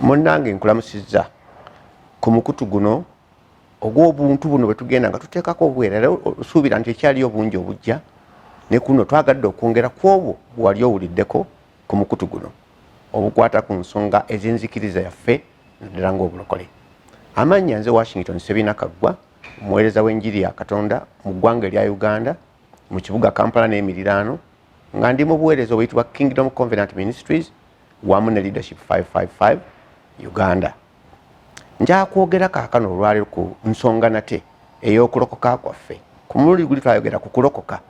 munnange nkulamusizza ku mukutu guno ogw'obuntu buno bwe tugenda nga tuteekako obwera era osuubira nti ekyaliyo obungi obujja ne kuno twagadde okwongera ku obwo bwewali owuliddeko ku mukutu guno obukwata ku nsonga ez'enzikiriza yaffe naddala ng'obulokole amannya nze washington sebina kaggwa omuweereza w'enjiri ya katonda mu ggwanga erya uganda mu kibuga kampala n'emiriraano nga ndi mu buweereza obuyitibwa kingdom convenant ministries wamu ne leadership 555 uganda njakwogera kaakano olwaliro ku nsonga nate ey'okulokoka kwaffe ku mulundi guli twayogera ku kulokoka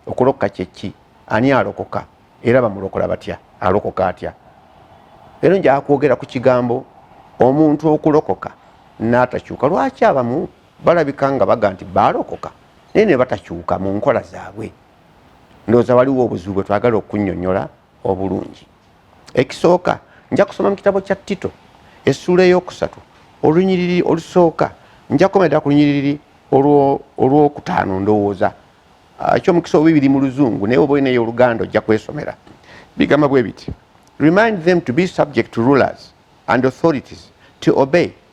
okulokoka kyeki ani alokoka era bamulokola batya alokoka atya leero njakwogera ku kigambo omuntu okulokoka n'atakyuka lwaki abamu balabika nga baga nti baalokoka naye ne batakyuka mu nkola zaabwe ndowooza waliwo obuzibu bwe twagala okunyonyola obulungi ekisooka nja kusoma mu kitabo kya tito essuula ey'okusatu olunyiriri olusooka nja kukoma ddala ku lunyiriri olw'okutaano ndowooza ah, ekyomukisa obibiri mu luzungu naye oba olinayo oluganda ojja kwesomera bigamba bwe biti remind them to be subject to rulers and authorities to obey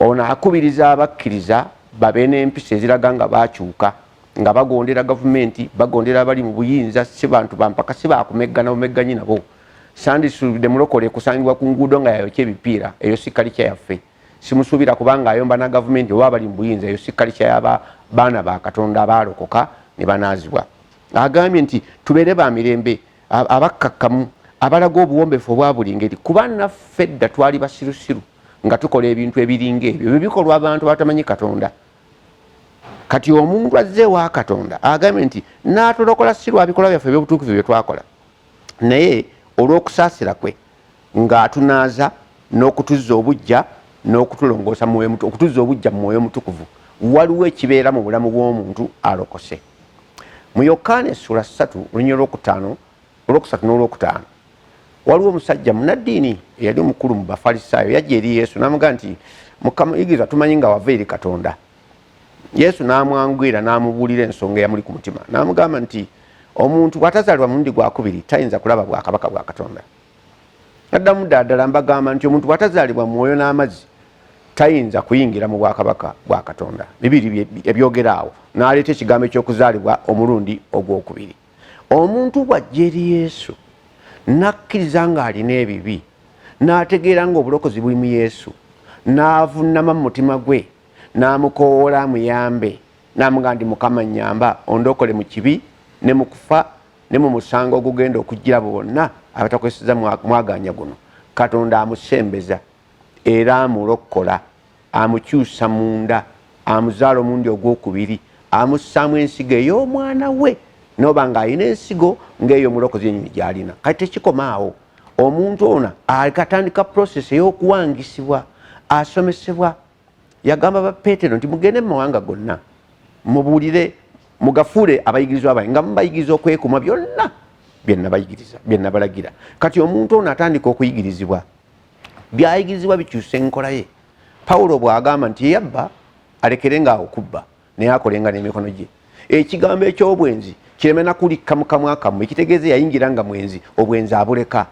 Ono akubiriza abakkiriza babe n'empisa eziraga nga baakyuka nga bagondera gavumenti, bagondera abali mu buyinza, si bantu ba mpaka, si baakumeggana bumegganyi nabo. Sandisuubidde mulokole kusangibwa ku nguudo nga yayokya ebipiira, eyo si kalica yaffe. Simusuubira kuba ng'ayomba na gavumenti oba abali mu buyinza, eyo si kalica ya baana ba Katonda abaalokoka ne banaazibwa. Agambye nti, tubeere ba mirembe. abakkakkamu abalaga obuwombefu obwa buli ngeri kuba naffe dda twali basirusiru nga tukola ebintu ebiringa ebyo ebyo bikolwa abantu batamanyi katonda kati omuntu azze ewa katonda agambye nti natulokola si lwabikolwa byaffe ebyobutuukivu byetwakola naye olw'okusaasira kwe ng'atunaaza n'okutuzza obuggya n'okutulongoosa mu mwoyo okutuzza obuggya mu mwoyo omutukuvu waliwo ekibeera mu bulamu bw'omuntu alokose mu yokaana essula ssatu olunyiro lwokutaano olwokusatu n'olwokutaano waliwo omusajja munaddiini eyali omukulu mu bafalisaayo yajja eri yesu n'amuga nti mukama yigiriza tumanyi nga wava eri katonda yesu n'amwangwira n'amubuulira ensonga eyamuli ku mutima n'amugamba nti omuntu bw'atazaalibwa mulundi gwakubiri tayinza kulaba bwakabaka bwa katonda addamu ddaaddala mbagamba nti omuntu bw'atazaalibwa mwoyo n'amazzi tayinza kuyingira mu bwakabaka bwa katonda bibiri ebyogera awo n'aleeta ekigambo eky'okuzaalibwa omulundi ogwokubiri omuntu bw'ajja eri yesu n'akkiriza ng'alina ebibi n'ategeera ng'obulokozi buli mu yesu n'avunnama mu mutima gwe n'amukowoola amuyambe n'amugamba nti mukama nyamba ondokole mu kibi ne mu kufa ne mu musango ogugenda okujjira abo bonna abatakozeseza mwaganya guno katonda amusembeza era amulokkola amukyusa munda amuzaala omundi ogwokubiri amussaamu ensigo ey'omwana we noba ng'alina ensigo ng'eyo omulokozi enyini gy'alina kati tekikoma awo omuntu ono akatandika prosesi ey'okuwangisibwa asomesebwa yagamba ba petero nti mugende mu mawanga gonna mubuulire mugafuule abayigirizwa bange nga mubayigiriza okwekuma byonna byenabayigiriza byenabalagira kati omuntu ono atandika okuyigirizibwa byayigirizibwa bikyusa enkola ye pawulo bwagamba nti eyabba alekere nga okubba naye akolenga n'emikono gye ekigambo eky'obwenzi kireme nakulikka mukamwakamu ekitegeeza yayingira nga mwenzi obwenzi abuleka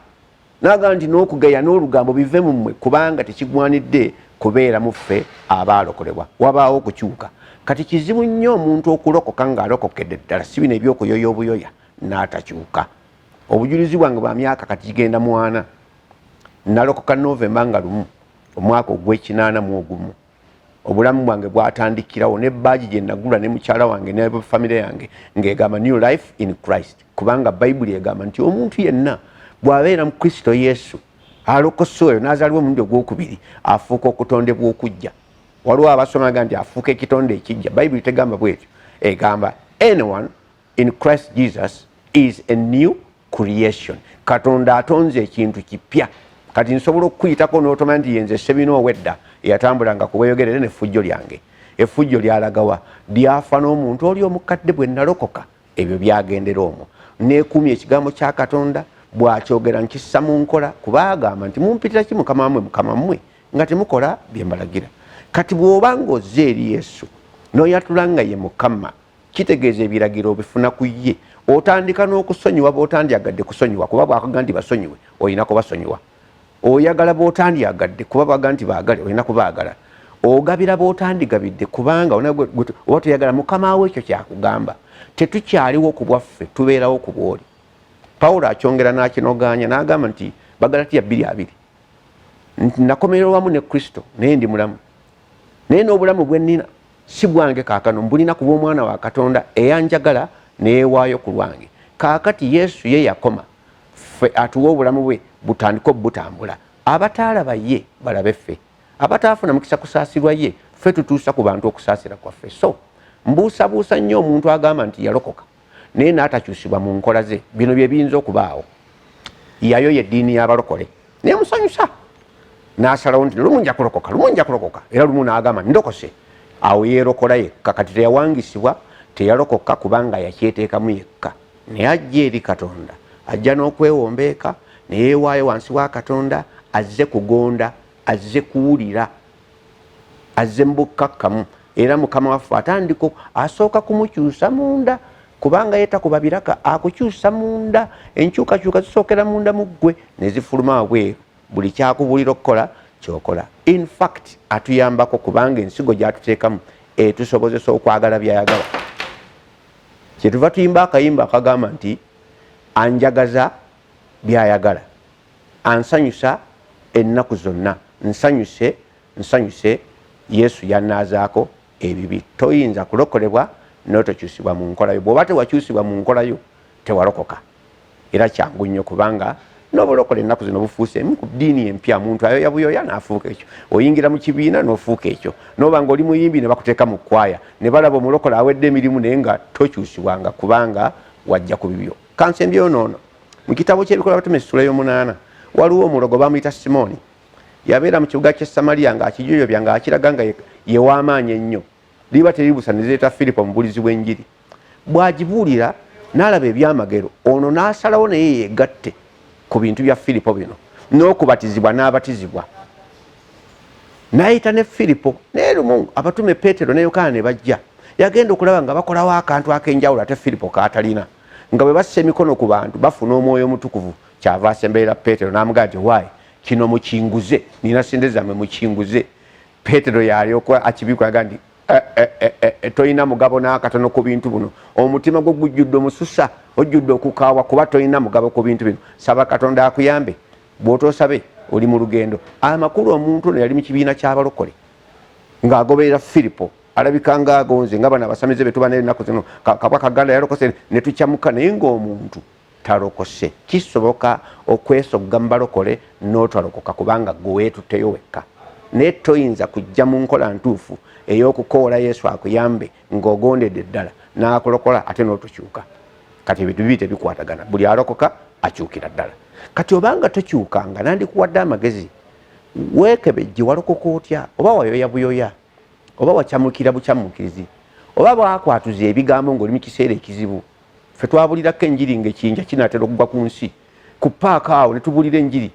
nagamba nti n'okugeya n'olugambo bive mu mmwe kubanga tekigwanidde kubeera mu ffe abaalokolebwa wabaawo okukyuka kati kizibu nnyo omuntu okulokoka ng'alokokedde ddala si bino ebyokuyoya obuyoya n'atakyuka obujulizi bwange bwa myaka kati kigenda mwana nalokoka novemba nga lumu omwaka ogw'ekinaana mu ogumu obulamu bwange bwatandikirawo ne baaji gye nagula ne mukyala wange ne famire yange ng'egamba new life in christ kubanga bayibuli egamba nti omuntu yenna bw'abeera mu kristo yesu alokosa oyo n'azaliwa omulundi ogwokubiri afuuka okutondebwa okujja waliwo abasomaga nti afuuka ekitonde ekijja bayibuli tegamba bwetyo egamba anyone in christ jesus is a new creation katonda atonze ekintu kipya kati nsobola okukuyitako notomanya nti yenze sebina owedda eyatambulanga kubeyogerere nefujjo lyange efujjo lyalagawa lyafa n'omuntu oli omukadde bwe nalokoka ebyo byagendera omwo nekuumya ekigambo kya katonda bwakyogera nkissa mu nkola kuba agamba nti mumpitira ki mukama wamwe mukama mmwe nga temukola byembalagira kati bw'oba ng'ozze eri yesu noyatula nga ye mukama kitegeeza ebiragiro obifuna ku ye otandika n'okusonyiwa botandyagadde kusonyiwa kuba bwakaga nti basonyiwe olina kubasonyiwa oyagala botandyagadde kuba baga nti baagale olina kubaagala ogabira botandigabidde kubanga oba toyagala mukama wo ekyo kyakugamba tetukyaliwo ku bwaffe tubeerawo ku bwoli pawulo akyongera n'akinogaanya n'agamba nti bagalatiya bbiri abiri nti nakomererwamu ne kristo naye ndi mulamu naye n'obulamu bwe nnina si gwange kaakano mbulina kuba omwana wa katonda eyanjagala neyewaayo ku lwange kaakati yesu ye yakoma ffe atuwa obulamu bwe butandika obutambula abataalaba ye balabe ffe abataafuna mukisa kusaasirwa ye ffe tutuusa ku bantu okusaasira kwaffe so mbuusabuusa nnyo omuntu agamba nti yalokoka naye n'atakyusibwa mu nkola ze bino bye biyinza okubaawo yayo yeddiini y'abalokole naye musanyusa n'asalawo nti lumu nja kulokoka lumu nja kulokoka era lumu n'agamba ndokose awo yeerokola yekka kati teyawangisibwa teyalokoka kubanga yakyeteekamu yekka naye ajja eri katonda ajja n'okwewombeeka neyeewaayo wansi wa katonda azze kugonda azze kuwulira azze mu bukkakkamu era mukama waffe atandiko asooka kumukyusa munda kubanga ye takuba biraka akukyusa munda enkyukakyuka zisookera munda mu ggwe ne zifuluma wabweru buli kyakubuulira okukola kyokola infact atuyambako kubanga ensigo gyatuteekamu etusobozesa okwagala byayagala kyetuva tuyimba akayimba akagamba nti anjagaza byayagala ansanyusa ennaku zonna nsanyuse nsanyuse yesu yanaazaako ebibi toyinza kulokolebwa notokyusibwa mu nkolayo bwoba tewakyusibwa mu nkolayo tewalokoka era kyangu nnyo kubanga nobulokola ennaku zino bufuuse emu ku ddiini empya muntu ayoya buyoya naafuuka ekyo oyingira mu kibiina nofuuka ekyo noba nga oli muyimbi ne bakuteeka mu kwaya ne balaba omulokola awedde emirimu naye nga tokyusibwanga kubanga wajja ku bibyo kansa embyonoono mu kitabo ky'ebikola batume sula y'omunaana waliwo omulogo bamuyita simooni yabeera mu kibuga ky'e samaliya ng'akijoyobya ng'akiraga nga yew'amaanyi ennyo liba teribusa ne zireeta firipo omubulizi w'enjiri bw'agibuulira n'alaba ebyamagero ono n'asalawo naye yeegatte ku bintu bya firipo bino n'okubatizibwa n'abatizibwa n'ayita ne firipo naye lumu abatume peetero ne yokaana ne bajja yagenda okulaba nga bakolawo akantu ak'enjawulo ate firipo kaatalina nga bwe bassa emikono ku bantu bafuna omwoyo omutukuvu kyava asemberera peetero n'amugaa nti waayi kino mukinguze nina sente zammwe mukinguze peetero yalyoka akibikulaga nti eh, eh, eh, tolina mugabo n'akatono ku bintu buno omutima gwo gujjudde omususa ojjudde okukaawa kuba tolina mugabo ku bintu bino saba katonda akuyambe bw'otoosabe oli mu lugendo amakulu omuntu ono yali mu kibiina ky'abalokole ng'agoberera firipo alabika nga agonze nga bano abasamize betuba naye ennaku zino kabwa kaganda yalokose ne tukyamuka naye ng'omuntu talokose kisoboka okwesogga mu balokole n'otalokoka kubanga gwe weetuteyo wekka naye toyinza kujja mu nkola ntuufu ey'okukoola yesu akuyambe ng'ogondedde ddala n'akulokola ate n'otokyuka kati ebintu bibi tebikwatagana buli alokoka akyukira ddala kati obanga tokyuka nga nandikuwadde amagezi weekebejje walokoka otya oba wayoya buyoya oba wacamukira bucamukirizi oba bwakwatuza ebigambo ng'oli mu kiseera ekizibu fe twabulirako enjiri ng'ekiyinja kinaatera okugwa ku nsi ku paaka awo ne tubuulira enjiri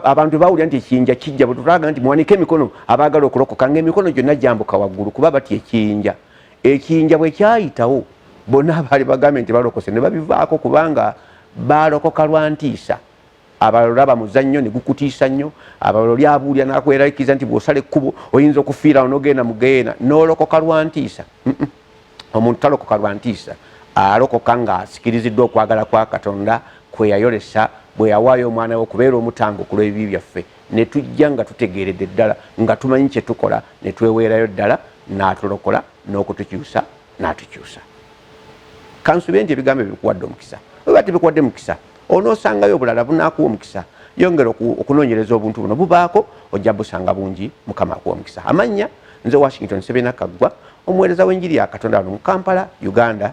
abantu tebawulira nti ekiyinja kijja bwetulaga nti muwanike emikono abaagala okulokoka nga emikono gyonna gyambuka waggulu kuba bati ekiyinja ekiyinja bwe kyayitawo bonna abaali bagambye nti balokose ne babivaako kubanga baalokoka lwa ntiisa abalala olaba muzannyo ne gukutiisa nnyo abalala oli abuulira n'akweralikiza nti bw'osala ekkubo oyinza okufiirawo n'ogenda mu geyeena n'olokoka lwa ntiisa omuntu talokoka lwa ntiisa alokoka ng'asikiriziddwa okwagala kwa katonda kwe yayolesa bwe yawaayo omwana we okubeera omutango ku lw'ebibi byaffe ne tujja nga tutegeeredde ddala nga tumanyi kye tukola ne tweweerayo ddala n'atulokola n'okutukyusa n'atukyusa kansube nti ebigambo ebyo bikuwadde omukisa oba tebikuwadde mukisa onoosangayo obulala bunaakuwa omukisa yongera okunoonyereza obuntu buno bubaako ojja busanga bungi mukama akuwa omukisa amannya Nze Washington Sebena Kaggwa, omuweereza w'enjiri ya Katonda wano mu Kampala, Uganda.